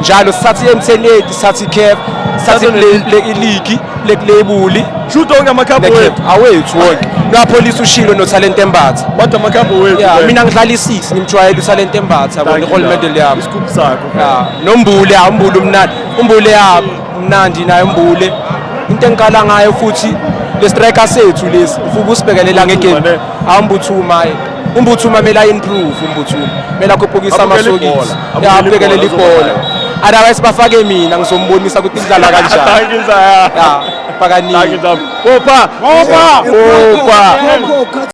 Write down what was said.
njalo sithatha i-mtn sathi i-caf sathi iligi lekulebuli shuthi onke amakhabho wethu awethu wonke nopholisa ushilo nothalente embatha kodwa amakhabho wethu ya mina ngidlala isisi ngimjwayele uthalente embatha yabo i-gold medal yami isikhuphu sakho ya nombule ya umbule umnandi umbule ya mnandi naye umbule into engiqala ngayo futhi le striker sethu lesi ufuba usibekelela ngegame awumbuthuma umbuthuma kumele aimprove umbuthuma kumele akhuphukise amasokisi abukele libhola otherwise bafake mina ngizombonisa ukuthi idlala kanjani pakaningi